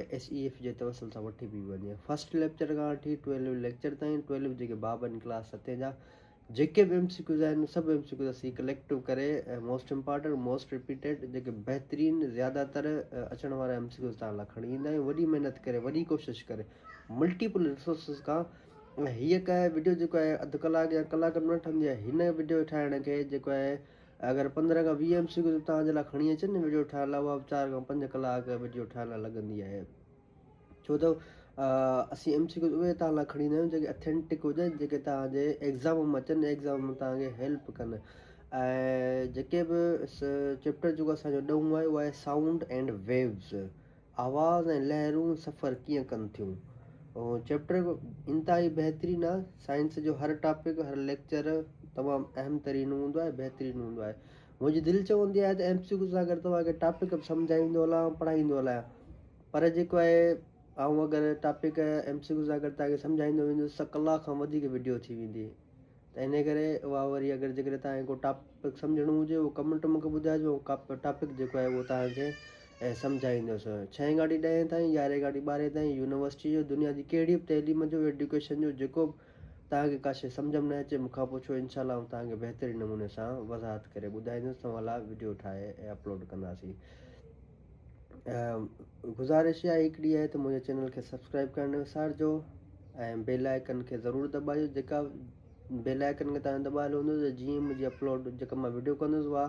۽ S A F جي توسل سان وٺي پئي وڃي. فرسٽ ليڪچر کان وٺي ٽويلوين ليڪچر تائين ٽويلوين جيڪي باب آهن ڪلاس ستين جا جيڪي به ايم سي ڪيوز آهن سڀ ايم سي ڪيوز اسين ڪليڪٽو ڪري ۽ موسٽ امپارٽنٽ موسٽ رپيٽيڊ جيڪي بهترين زياده تر اچڻ وارا ايم سي ڪيوز تان لا کڻي ايندا آهيون وڏي محنت ڪري وڏي ڪوشش ڪري ملٽيپل رسورسز کان ۽ هيء ڪا وڊيو جيڪو آهي اڌ ڪلاڪ يا ڪلاڪ ۾ نه ٺهندي آهي هن وڊيو ٺاهڻ کي جيڪو آهي اگر پندرهن کان ويهه ايم سي ڪيو توهان جي لاء کڻي اچن ني وڊيو ٺاهڻ لاء اها به چار کان پنج ڪلاڪ وڊيو ٺاهڻ لاء لڳندي آهي ڇو ته اسين ايم سي ڪيو اهي توهان لاء کڻي ايندا آهيون جيڪي اٿينٽڪ هجن جيڪي توهان جي ايگزام ۾ اچن ايگزام ۾ توهان کي هيلپ ڪن ۽ جيڪي به چيپٽر جيڪو اسانجو ڏهون آهي اهو آهي سائونڊ اينڊ ويوز آواز ۽ لهرون سفر ڪيئن ڪن ٿيون. چيپٽر انتهائي بهترين آ سائنس جو هر ٽاپڪ هر ليڪچر تمام اهم ترين هوندو آهي بهترين هوندو آهي منهنجي دل چوندي آهي ته ايم سي ڪيو سان گڏ توهان کي ٽاپڪ به سمجهائيندو هلان ۽ پڙهائيندو هلان پر جيڪو آهي آئون اگر ٽاپڪ ايم سي ڪيو سان گڏ توهان کي سمجهائيندو ويندس ته ڪلاڪ کان وڌيڪ وڊيو ٿي ويندي ته انهيء ڪري اها وري اگر جيڪڏهن توهان کي ڪو ٽاپڪ سمجهڻو هجي اهو ڪمينٽ مون کي ٻڌائجو ۽ ٽاپڪ جيڪو آهي اهو توهان کي سمجهائيندس. ڇهين کان وٺي ڏهين تائين، يارهين کان وٺي ٻارهين تائين، يونيورسٽي جو، دنيا جي ڪهڙي به تعليم جو، ايڊيوڪيشن جو، جيڪو به توهان کي ڪا شيء سمجهه ۾ نه اچي مون کان پڇو انشاء الله آئون توهان کي بهترين نموني سان وضاحت ڪري ٻڌائيندس توهان لاء وڊيو ٺاهي ۽ اپلوڊ ڪنداسين. گذارش اها هڪ ڏي آهي ته منهنجي چينل کي سبسڪرائب ڪرڻ نه وسارجو ۽ بيل آئڪن کي ضرور دٻايو جيڪا بيل آئڪن کي تان دٻايل هوندو ته جيئن منهنجي اپلوڊ جيڪا مان ويڊيو ڪندس اها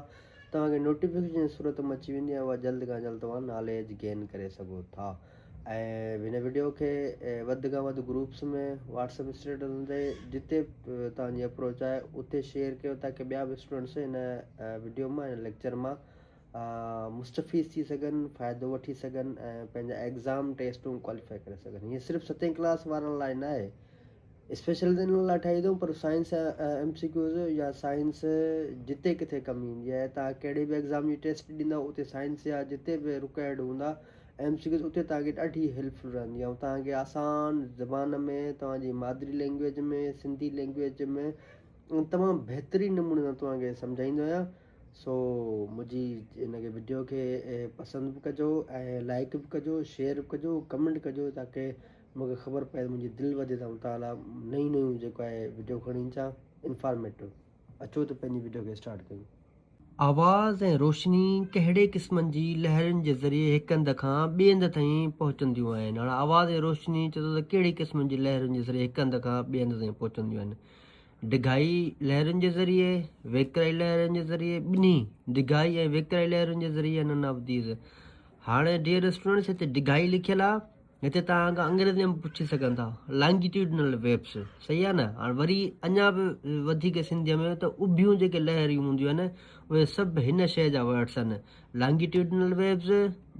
توهان کي نوٽيفڪيشن جي صورت ۾ اچي ويندي ۽ اها جلد کان جلد توهان ناليج گين ڪري سگهو ٿا ۽ هن ويڊيو کي وڌ کان وڌ گروپس ۾ واٽس اپ اسٽيٽسن تي جتي توهان جي اپروچ آهي اتي شيئر ڪيو تاڪي ٻيا به اسٽوڊنٽس هن ويڊيو مان هن ليڪچر مان مستفيض ٿي سگهن، فائدو وٺي سگهن ۽ پنهنجا ايگزام، ٽيسٽون ڪواليفائي ڪري سگهن. هيء صرف ستين ڪلاس وارن لاء ناهي، اسپيشل ته انهن لاء ٺاهي اٿئون پر سائنس ايم سي ڪيوز يا سائنس جتي ڪٿي ڪم ايندي آهي توهان ڪهڙي به ايگزام جي ٽيسٽ ڏيندا اتي سائنس يا جتي به رڪوائرڊ هوندا ايم سي ڪيوز اتي توهان کي ڏاڍي هيلپفل رهندي ۽ توهان کي آسان زبان ۾ توهان جي مادري لينگويج ۾ سنڌي لينگويج ۾ تمام بهترين نموني سان توهان کي سمجهائيندو آهيان سو منهنجي ان کي وڊيو کي پسند به ڪجو ۽ لائڪ به ڪجو شيئر به ڪجو ڪمينٽ ڪجو تاڪي مونکي خبر پئي منهنجي دل وڌي ته مطالعا نيون نيون جيڪو آهي وڊيو کڻي اچان انفارميٽو اچو ته پنهنجي وڊيو کي اسٽارٽ ڪيون. آواز ۽ روشني ڪهڙي قسمن جي لهرين جي ذريعي هڪ هنڌ کان ٻئي هنڌ تائين پهچنديون آهن هاڻ آواز ۽ روشني چئو ته ڪهڙي قسمن جي لهرين جي ذريعي هڪ هنڌ کان ٻئي هنڌ تائين پهچنديون آهن ڊگهائي لهرن جي ذريعي، ويڪرائي لهرن جي ذريعي ٻنهي ڊگهائي ۽ ويڪرائي لهرن جي ذريعي انن آف ديز هاڻي ڊيئر اسٽوڊنٽس هتي ڊگهائي لکيل آ هتي توهان کان انگريزي ۾ پڇي سگهن ٿا لانگيٽيوڊنل ويبس صحيح آ نه هاڻي وري اڃا به وڌيڪ سنڌي ۾ ته اڀيون جيڪي لهريون هونديون آهن اهي سڀ هن شي جا ورڊس آهن لانگيٽيوڊنل ويبس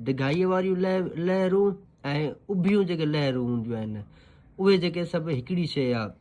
ڊگهائي واريون لهرون ۽ اڀيون جيڪي لهرون هونديون آهن اهي جيڪي سڀ هڪڙي شي آ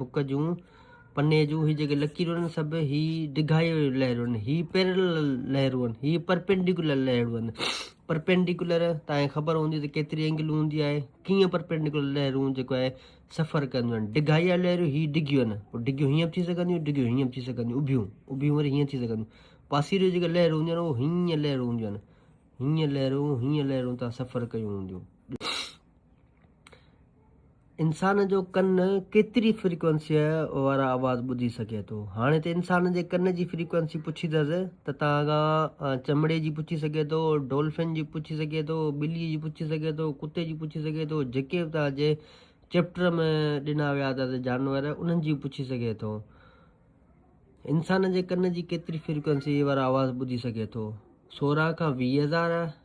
بڪ جون پني جون هي جيڪي لڪيرون آهن سڀ هي ڊگهائيء جون لهرون آهن هي پيرلل لهرون آهن هي پرپينڊيڪولر لهرون آهن پرپينڊيڪولر تان کي خبر هوندي ته ڪيتري اينگل هوندي آهي ڪيئن پرپينڊيڪولر لهرون جيڪو آهي سفر ڪنديون آهن ڊگهائيء جون لهرون هي ڊگهيون آهن پوء ڊگهيون هيئن به ٿي سگهنديون ڊگهيون هيئن به ٿي سگهنديون اڀيون اڀيون وري هيئن ٿي سگهنديون پاسيريون جيڪي لهرون هونديون آهن اهو هيئن لهرون هونديون آهن هيئن لهرون هيئن لهرون تان سفر ڪيون هونديون انسان جو ڪن ڪيتري فريڪوئنسيء وارا آواز ٻڌي سگهي ٿو؟ هاڻي ته انسان جي ڪن جي فريڪوئنسي پڇيندس ته تان کان چمڙي جي پڇي سگهي ٿو، ڊولفن جي پڇي سگهي ٿو، ٻلي جي پڇي سگهي ٿو، ڪتي جي پڇي سگهي ٿو، جيڪي به توهان جي چيپٽر ۾ ڏنا ويا اٿس جانور انهن جي پڇي سگهي ٿو. انسان جي ڪن جي ڪيتري فريڪوئنسيء وارا آواز ٻڌي سگهي ٿو؟ سورهن کان ويهه هزار.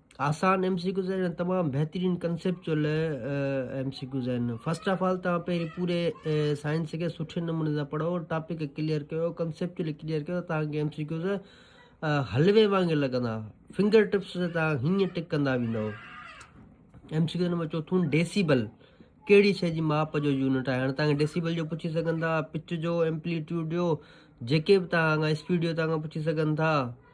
آسان ايم سي ڪيوز آهن ۽ تمام بهترين ڪنسيپچوئل ايم سي ڪيوز آهن فرسٽ آف آل تان پهرين پوري سائنس کي سٺي نموني سان پڙهو ٽاپڪ ڪليئر ڪيو ڪنسيپچوئل ڪليئر ڪيو تان ايم سي ڪيوز حلوي وانگر لڳندا فنگر ٽپس تي تان هيئن ٽڪ ڪندا ويندو ايم سي ڪيوز نمبر چوٿون ڊيسيبل ڪهڙي شيء جي ماپ جو يونٽ آهي هاڻي تان ڊيسيبل جو پڇي سگهن ٿا پچ جو ايمپليٽيوڊ جو جيڪي به تان اسپيڊ جو تان پڇي سگهن ٿا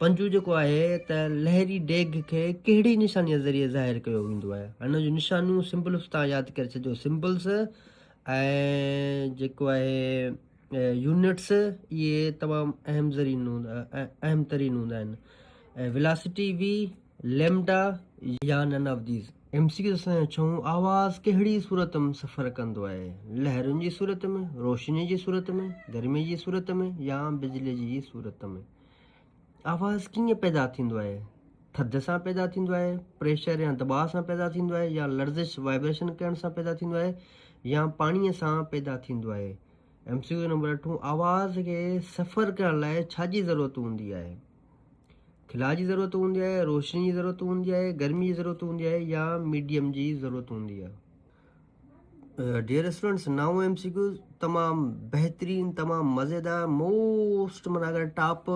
پنجون جيڪو آهي ته لهري ڊيگهه کي ڪهڙي نشانيء ذريعي ظاهر ڪيو ويندو آهي هن جون نشانيون سمبلس تان ياد ڪري ڇڏيو سمبلس ۽ جيڪو آهي يونٽس اهي تمام اهم ذرين اهم ترين هوندا آهن ولاسٽي وي ليمڊا يا none of these, M C Q سان يا ڇهون آواز ڪهڙي صورت ۾ سفر ڪندو آهي، لهرن جي صورت ۾، روشني جي صورت ۾، گرمي جي صورت ۾، يا بجلي جي صورت ۾؟ آواز ڪيئن پيدا ٿيندو آهي، ٿڌ سان پيدا ٿيندو آهي، پريشر يا دٻاء سان پيدا ٿيندو آهي، يا لرزش، وائبريشن، ڪرڻ سان پيدا ٿيندو آهي، يا پاڻي سان پيدا ٿيندو آهي؟ ايم سي ڪيو نمبر اٺون آواز کي سفر ڪرڻ لاء ڇا جي ضرورت هوندي آهي؟ کلاء جي ضرورت هوندي آهي روشني جي ضرورت هوندي آهي گرمي جي ضرورت هوندي آهي يا ميڊيم جي ضرورت هوندي آهي ڊيئر اسٽوڊنٽس نائون ايم سي ڪيوز تمام بهترين تمام مزيدار موسٽ مانا اگر ٽاپ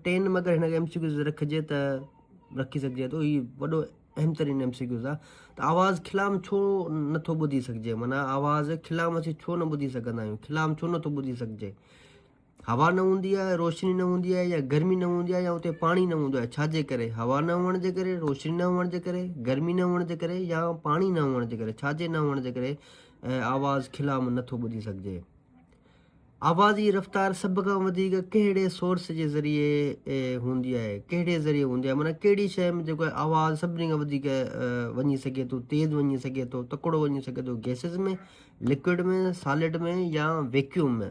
ٽين ۾ اگر هن ايم سي ڪيوز رکجي ته رکي سگهجي ٿو هي وڏو اهم ترين ايم سي ڪيوز آهي ته آواز کلام ڇو نٿو ٻڌي سگهجي مانا آواز کلام اسين ڇو نه ٻڌي سگهندا آهيون کلام ڇو نٿو ٻڌي سگهجي هوا نه هوندي آهي، روشني نه هوندي آهي يا گرمي نه هوندي آهي يا اتي پاڻي نه هوندو آهي، ڇا جي ڪري؟ هوا نه هئڻ جي ڪري، روشني نه هئڻ جي ڪري، گرمي نه هئڻ جي ڪري يا پاڻي نه هئڻ جي ڪري، ڇا جي نه هئڻ جي ڪري آواز کلا ۾ نٿو ٻڌي سگهجي. آواز جي رفتار سڀ کان وڌيڪ ڪهڙي سورس جي ذريعي هوندي آهي ڪهڙي ذريعي هوندي آهي معنيٰ ڪهڙي شيء ۾ جيڪو آواز سڀني کان وڌيڪ وڃي سگهي ٿو تيز وڃي سگهي ٿو تڪڙو وڃي سگهي ٿو گيسز ۾ لڪوڊ ۾ سالڊ ۾ يا ويڪيوم ۾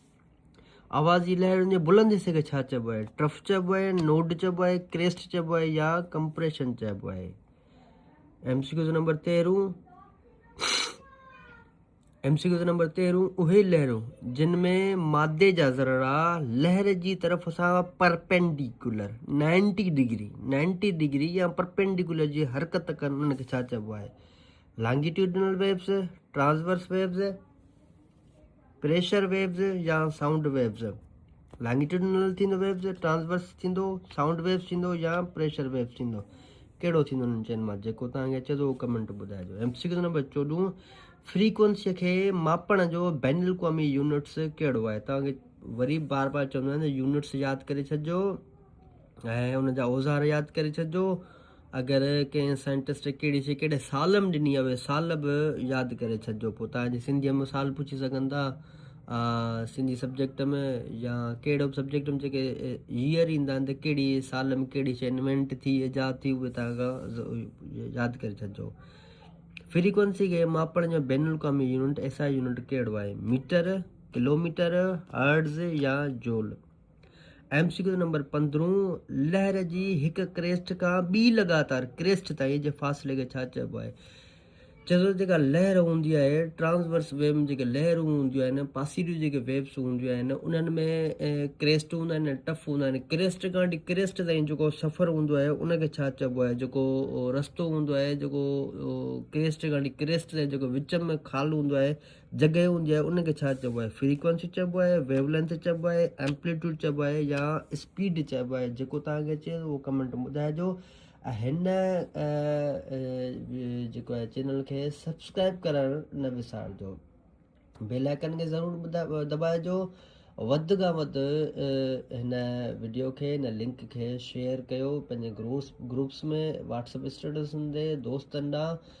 آواز جي لهرن جي بلند حصي کي ڇا چئبو آهي؟ ٽرف چئبو آهي، نوڊ چئبو آهي، ڪريسٽ چئبو آهي يا ڪمپريشن چئبو آهي؟ ايم سي ڪيوز نمبر تيرهون ايم سي ڪيوز نمبر تيرهون اهي لهرون جن ۾ مادي جا ذرا لهر جي طرف سان perpendicular ninety degree ninety degree يا پرپينڊيڪولر جي حرڪت ڪن ان کي ڇا چئبو آهي longitudinal waves transverse waves pressure waves يا سائونڊ ويوز، لانگيٽيوڊنل ٿيندو ويوز، ٽرانسورس ٿيندو، سائونڊ ويوز ٿيندو يا پريشر ويوز ٿيندو، ڪهڙو ٿيندو انهن چئن مان جيڪو توهان کي اچي ٿو اهو ڪمينٽ ٻڌائجو ايم سي ڪيو نمبر چوڏهون فريڪوينسي کي ماپڻ جو بين الاقوامي يونٽس ڪهڙو آهي توهان کي وري بار بار چوندو آهيان يونٽس ياد ڪري ڇڏجو ۽ ان جا اوزار ياد ڪري ڇڏجو اگر ڪنهن سائنٽسٽ ڪهڙي شي ڪهڙي سال ۾ ڏني اهي سال به ياد ڪري ڇڏجو پوء تان جي سنڌيء ۾ سال پڇي سگهن ٿا سنڌي سبجيڪٽ ۾ يا ڪهڙو به سبجيڪٽ ۾ جيڪي ييئر ايندا آهن ته ڪهڙي سال ۾ ڪهڙي شي انوينٽ ٿي ايجاد ٿي اهي تان کان ياد ڪري ڇڏجو فريڪوينسي کي ماپڻ جو بين الاقوامي يونٽ ايس آء يونٽ ڪهڙو آهي ميٽر ڪلوميٽر هرز يا جول ايم سي ڪيو نمبر پندرهون، لهر جي هڪ ڪريسٽ کان ٻي لڳاتار ڪريسٽ تائين جي فاصلي کي ڇا چئبو آهي؟ چئجو ته جيڪا لهر هوندي آهي ٽرانسورس ويو ۾ جيڪي لهرون هونديون آهن پاسيريون جيڪي ويوس هونديون آهن انهن ۾ ڪريسٽ هوندا آهن ۽ ٽف هوندا آهن ڪريسٽ کان وٺي ڪريسٽ تائين جيڪو سفر هوندو آهي ان کي ڇا چئبو آهي جيڪو رستو هوندو آهي جيڪو ڪريسٽ کان وٺي ڪريسٽ تائين جيڪو وچ ۾ خال هوندو آهي جڳهه هوندي آهي ان کي ڇا چئبو آهي فريڪوينسي چئبو آهي ويو لينٿ چئبو آهي ايمپليٽوڊ چئبو آهي يا اسپيڊ چئبو آهي جيڪو تان کي اچي اهو ڪمينٽ ۾ ٻڌائجو ۽ هن جيڪو آهي چينل کي سبسڪرائب ڪرڻ نه وسارجو بيل آئڪن کي ضرور ٻڌا دٻائجو وڌ کان وڌ هن ويڊيو کي هن لنڪ کي شيئر ڪيو پنهنجي گروس گروپس ۾ واٽسپ اسٽيٽسن تي دوستن ڏانهن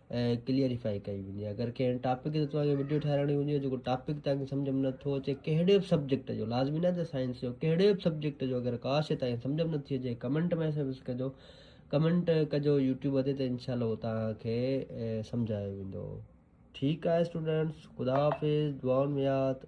ڪليئريفائي ڪئي وڃي اگر ڪنهن ٽاپڪ تي توهان کي وڊيو ٺهرائڻي هجي جيڪو ٽاپڪ توهان کي سمجهه ۾ نٿو اچي ڪهڙي به سبجيڪٽ جو لازمي ناهي ته سائنس جو ڪهڙي به سبجيڪٽ جو اگر ڪا شي توهان کي سمجهه ۾ نٿي اچي ڪمينٽ ميسج ڪجو ڪمينٽ ڪجو يوٽيوب تي ته انشاء الله هو توهان کي سمجهايو ويندو ٺيڪ آهي اسٽوڊنٽس خدا حافظ دعائن ۾ ياد